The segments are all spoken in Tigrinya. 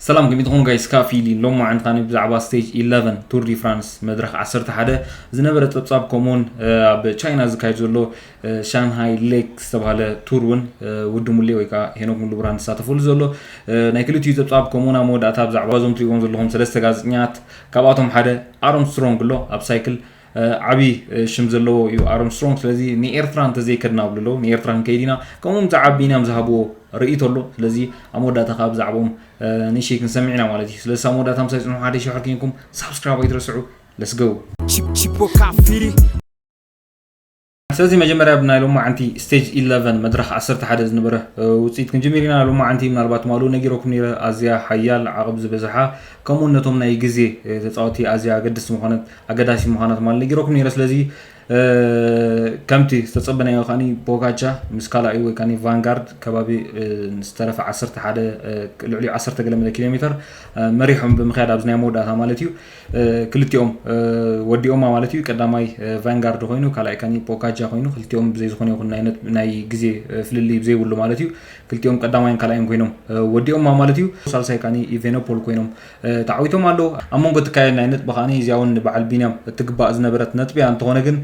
ሰላም ከመይ ትኾኑ ጋይስ ካፊ ኢሊ ሎማዕንቲ ካኒ ብዛዕባ ስቴጅ ኢለቨን ቱር ዲ ፍራንስ መድረኽ ዓሰርተ ሓደ ዝነበረ ጸብጻብ ከምኡውን ኣብ ቻይና ዝካየድ ዘሎ ሻንሃይ ሌክ ዝተባሃለ ቱር እውን ውዲ ሙሌ ወይ ከዓ ሄኖክ ሙሉ ብርሃን ዝሳተፈሉ ዘሎ ናይ ክልቲኡ ጸብጻብ ከምኡውን ኣብ መወዳእታ ብዛዕባ እዞም ትሪእዎም ዘለኹም ሰለስተ ጋዜጠኛት ካብኣቶም ሓደ ኣሮም ስትሮንግ ኣሎ ኣብ ሳይክል ዓብዪ ሽም ዘለዎ እዩ ኣርምስትሮንግ ስለዚ ንኤርትራ እንተዘይከድና ኣብሉ ኣለዉ ንኤርትራ ክንከይድ ኢና ከምኡ ተዓቢና ም ዝሃብዎ ርእይቶ ኣሎ ስለዚ ኣብ መወዳእታ ከዓ ብዛዕባኦም ንእሸይ ክንሰምዕ ኢና ማለት እዩ ስለዚ ኣብ መወዳእታ ምሳይ ፅንሑ ሓደ ሸሕር ኮንኩም ሳብስክራይብ ኣይትረስዑ ለስገው ስለዚ መጀመርያ ብ ናይ ሎማዓንቲ Stage Eleven መድረኽ ዓሰርተ ሓደ ዝንበረ ውጽኢት ክንጅሚር ኢና ሎማዓንቲ ምናልባት ማሉ ነጊረኩም ኔረ ኣዝያ ሓያል ዓቕብ ዝበዝሓ ከምኡውን ነቶም ናይ ግዜ ተጻወቲ ኣዝያ ኣገድስቲ ምዃነት ኣገዳሲት ምዃና ትማሊ ነጊረኩም ኔረ ስለዚ ከምቲ ዝተጸበናዮ ካኒ ቦጋቻ ምስ ካልኣዩ ወይ ካኒ ቫንጋርድ ከባቢ ዝተረፈ ዓሰርተ ሓደ ልዕሊኡ ዓሰርተ ገለ መለ ኪሎ ሜተር መሪሖም ብምክያድ ኣብዚ ናይ መወዳእታ ማለት እዩ ክልቲኦም ወዲኦማ ማለት እዩ። ቀዳማይ ቫንጋርድ ኮይኑ ካልኣይ ካኒ ፖካጃ ኮይኑ ክልቲኦም ብዘይ ዝኾነ ይኹን ዓይነት ናይ ግዜ ፍልልይ ብዘይብሉ ማለት እዩ ክልቲኦም ቀዳማይን ካልኣይን ኮይኖም ወዲኦማ ማለት እዩ። ሳልሳይ ካኒ ኢቬኖፖል ኮይኖም ተዓዊቶም ኣለዉ። ኣብ መንጎ እቲ ካየድ ናይ ነጥቢ ካኒ እዚኣ እውን ንበዓል ቢንያም እትግባእ ዝነበረት ነጥቢ እያ እንተኾነ ግን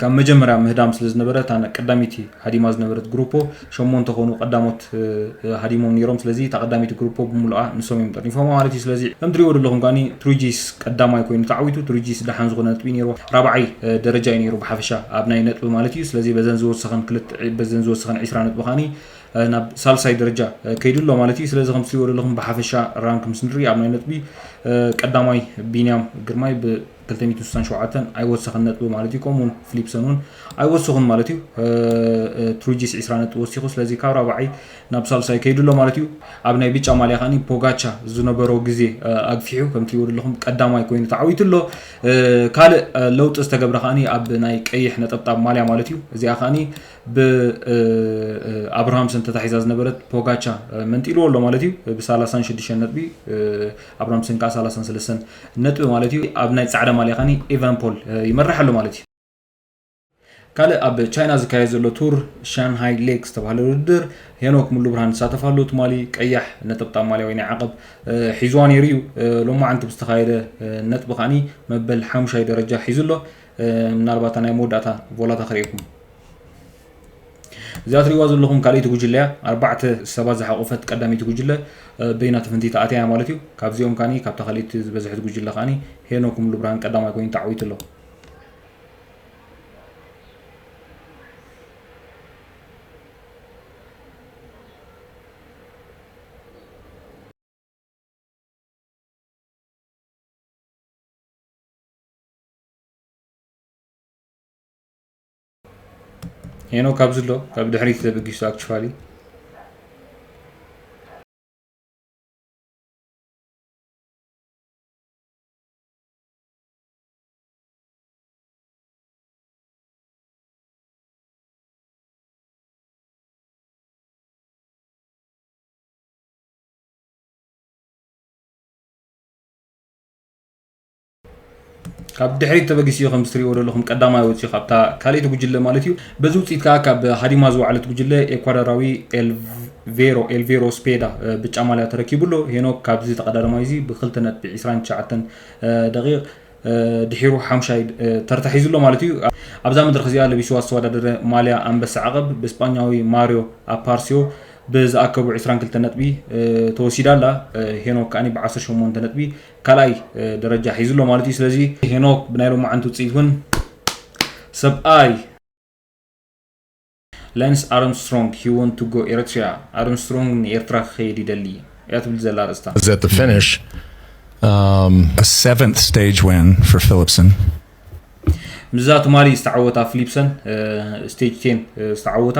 ካብ መጀመርያ ምህዳም ስለ ዝነበረ እታ ቀዳሚቲ ሃዲማ ዝነበረት ግሩፖ ሸሞንተ ኮኑ ቀዳሞት ሃዲሞም ነይሮም ስለዚ እታ ቀዳሚቲ ግሩፖ ብምሉኣ ንሶም እዮም ጠርኒፎማ ማለት እዩ ስለዚ ከም ትሪእዎ ዘለኹም ጋኒ ትሩጂስ ቀዳማይ ኮይኑ ተዓዊቱ ትሩጂስ ደሓን ዝኾነ ነጥቢ ነይርዎ ራብዓይ ደረጃ እዩ ነይሩ ብሓፈሻ ኣብ ናይ ነጥቢ ማለት እዩ ስለዚ በዘን ዝወሰኸን ክልተ በዘን ዝወሰኸን ዕስራ ነጥቢ ካኒ ናብ ሳልሳይ ደረጃ ከይዱ ኣሎ ማለት እዩ ስለዚ ከም ትሪእዎ ዘለኹም ብሓፈሻ ራንክ ምስ ንርኢ ኣብ ናይ ነጥቢ ቀዳማይ ቢንያም ግርማይ ብ ክልተ ሚእቲ ስሳን ሸውዓተን ኣይወሰኸን ነጥቢ ማለት እዩ ከምኡ ውን ፍሊፕሰን እውን ኣይወሰኹን ማለት እዩ ትሩጂስ ዕስራ ነጥቢ ወሲኹ ስለዚ ካብ ራብዓይ ናብ ሳልሳይ ከይዱ ኣሎ ማለት እዩ ኣብ ናይ ብጫ ማልያ ከዓኒ ፖጋቻ ዝነበሮ ግዜ ኣግፊሑ ከም ትሪእዎ ዘለኹም ቀዳማይ ኮይኑ ተዓዊቱ ኣሎ ካልእ ለውጢ ዝተገብረ ከዓኒ ኣብ ናይ ቀይሕ ነጠብጣብ ማልያ ማለት እዩ እዚኣ ከዓኒ ብኣብርሃምሰን ተታሒዛ ዝነበረት ፖጋቻ መንጢልዎ ኣሎ ማለት እዩ ብሳላሳን ሽዱሽተን ነጥቢ ኣብራም ሰን ከኣ ሰላሳን ሰለስተን ነጥቢ ማለት እዩ። ኣብ ናይ ጻዕዳ ማልያ ከኣ ኤቫን ፖል ይመርሕ ኣሎ ማለት እዩ። ካልእ ኣብ ቻይና ዝካየድ ዘሎ ቱር ሻንሃይ ሌክ ዝተባህለ ውድድር ሄኖክ ሙሉ ብርሃን ዝሳተፍ ኣሎ። ትማሊ ቀያሕ ነጠብጣብ ማልያ ወይ ናይ ዓቐብ ሒዝዋ ነይሩ እዩ። ሎማዓንቲ ብዝተኻየደ ነጥቢ ከኣ መበል ሓሙሻይ ደረጃ ሒዙ ኣሎ። ምናልባት ናይ መወዳእታ ቮላታ ክርእየኩም እዛ ትሪእዋ ዘለኹም ካልኣይቲ ጉጅለ እያ። ኣርባዕተ ሰባት ዝሓቖፈት ቀዳመይቲ ጉጅለ በይና ትፍንቲት ኣትያ እያ ማለት እዩ። ካብዚኦም ካኒ ካብታ ካልኣይቲ ዝበዝሐት ጉጅለ ካኒ ሄኖክ ሙሉብርሃን ቀዳማይ ኮይኑ ተዓዊቱ ኣሎ። ሄኖክ ኣብዚ ኣሎ ካብ ድሕሪት ተበጊሱ ኣክቹዋሊ ካብ ድሕሪት ተበጊሱ ከም ዝትሪእዎ ዘለኹም ቀዳማይ ወፂኡ ካብታ ካልእቲ ጉጅለ ማለት እዩ በዚ ውፅኢት ከዓ ካብ ሃዲማ ዝወዓለት ጉጅለ ኤኳዶራዊ ኤልቬሮ ኤልቬሮ ስፔዳ ብጫ ማልያ ተረኪቡ ኣሎ ሄኖክ ካብዚ ተቀዳዳማይ እዚ ብክልተ ነጥቢ 29 ደቂቅ ድሒሩ ሓምሻይ ተርታ ሒዙ ኣሎ ማለት እዩ ኣብዛ መድረክ እዚኣ ለቢስዋ ዝተወዳደረ ማልያ ኣንበሳ ዓቐብ ብስጳኛዊ ማሪዮ ኣፓርስዮ ብዝኣከቡ 22 ነጥቢ ተወሲዳ ኣላ ሄኖክ ከዓኒ ብ18 ነጥቢ ካልኣይ ደረጃ ሒዙ ኣሎ ማለት እዩ ስለዚ ሄኖክ ብናይ ሎማዓንቲ ውፅኢት እውን ሰብኣይ ላይንስ ኣርምስትሮንግ ሂ ወንት ቱ ጎ ኤርትሪያ ኣርምስትሮንግ ንኤርትራ ክኸይድ ይደሊ እያ ትብል ዘላ ርእስታ is at the finish um, a seventh stage win for Philipson ምዛ ትማሊ ዝተዓወታ ፍሊፕሰን ስቴጅ ቴን ዝተዓወታ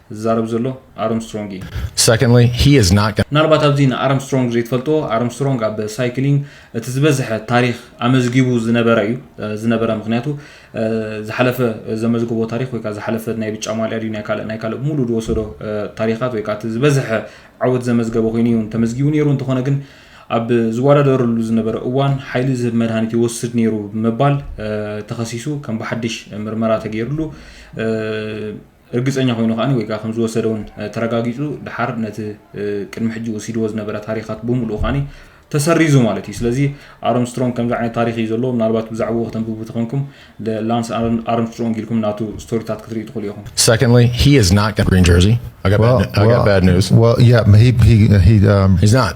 ዝዛረብ ዘሎ ኣርምስትሮንግ እዩ። Secondly, he is not gonna. ምናልባት ኣብዚ ንኣርምስትሮንግ ዘይትፈልጥዎ፣ ኣርምስትሮንግ ኣብ ሳይክሊንግ እቲ ዝበዝሐ ታሪኽ ኣመዝጊቡ ዝነበረ እዩ ዝነበረ ምኽንያቱ ዝሓለፈ ዘመዝገቦ ታሪኽ ወይ ከኣ ዝሓለፈ ናይ ብጫ ማልያ ድዩ ናይ ካልእ ናይ ካልእ ሙሉ ዝወሰዶ ታሪኻት ወይ ከኣ እቲ ዝበዝሐ ዓወት ዘመዝገበ ኮይኑ እዩ ተመዝጊቡ ነይሩ እንተኾነ ግን ኣብ ዝወዳደረሉ ዝነበረ እዋን ሓይሊ ዝህብ መድሃኒት ይወስድ ነይሩ ብምባል ተኸሲሱ ከም ብሓድሽ ምርመራ ተገይርሉ ርግጸኛ ኮይኑ ከኣ ወይ ከኣ ከም ዝወሰደ እውን ተረጋጊጹ ደሓር ነቲ ቅድሚ ሕጂ ወሲድዎ ዝነበረ ታሪኻት ብምሉኡ ከኣ ተሰሪዙ ማለት እዩ። ስለዚ ኣርምስትሮንግ ከምዚ ዓይነት ታሪኽ እዩ ዘለዎ። ምናልባት ብዛዕብኡ ከተንብቡ ተኾንኩም ላንስ ኣርምስትሮንግ ኢልኩም ናቱ ስቶሪታት ክትርእዩ ትኽእሉ ኢኹም። Secondly, he is not gonna green jersey. I got well, bad, I well, got bad news. Well, yeah, he he he. Um, He's not.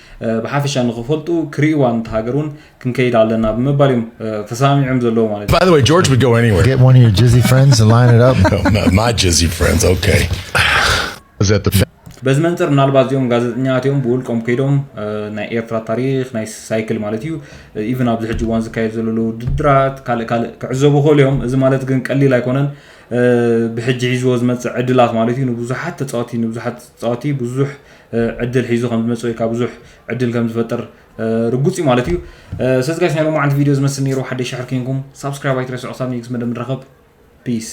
ብሓፈሻ ንኽፈልጡ ክሪእዋ ነቲ ሃገር እውን ክንከይድ ኣለና ብምባል እዮም ተሰማሚዖም ዘለዉ ማለት እዩ By the way, George would go anywhere. Get one of your jizzy friends and line it up. My jizzy friends, okay. Is that the በዚ መንፅር ምናልባት እዚኦም ጋዜጠኛታት እዮም ብውልቆም ከይዶም ናይ ኤርትራ ታሪክ ናይ ሳይክል ማለት እዩ ኢቨን ኣብዚ ሕጂ እዋን ዝካየድ ዘሎ ውድድራት ካልእ ካልእ ክዕዘቡ ክእሉ እዮም እዚ ማለት ግን ቀሊል ኣይኮነን ብሕጂ ሒዝዎ ዝመፅእ ዕድላት ማለት እዩ ንብዙሓት ተፃወቲ ንብዙሓት ተፃወቲ ብዙሕ ዕድል ሒዙ ከም ዝመጽእ ወይ ከኣ ብዙሕ ዕድል ከም ዝፈጥር ርጉጽ እዩ ማለት እዩ ስለዚ ጋይስ ናይ ሎማዓንቲ ቪድዮ ዝመስል ነይሩ ሓደሽ ሽሕር ኬንኩም ሳብስክራይብ ኣይትረስዑ ክሳብ ኔክስ መደብ ንራኸብ ፒስ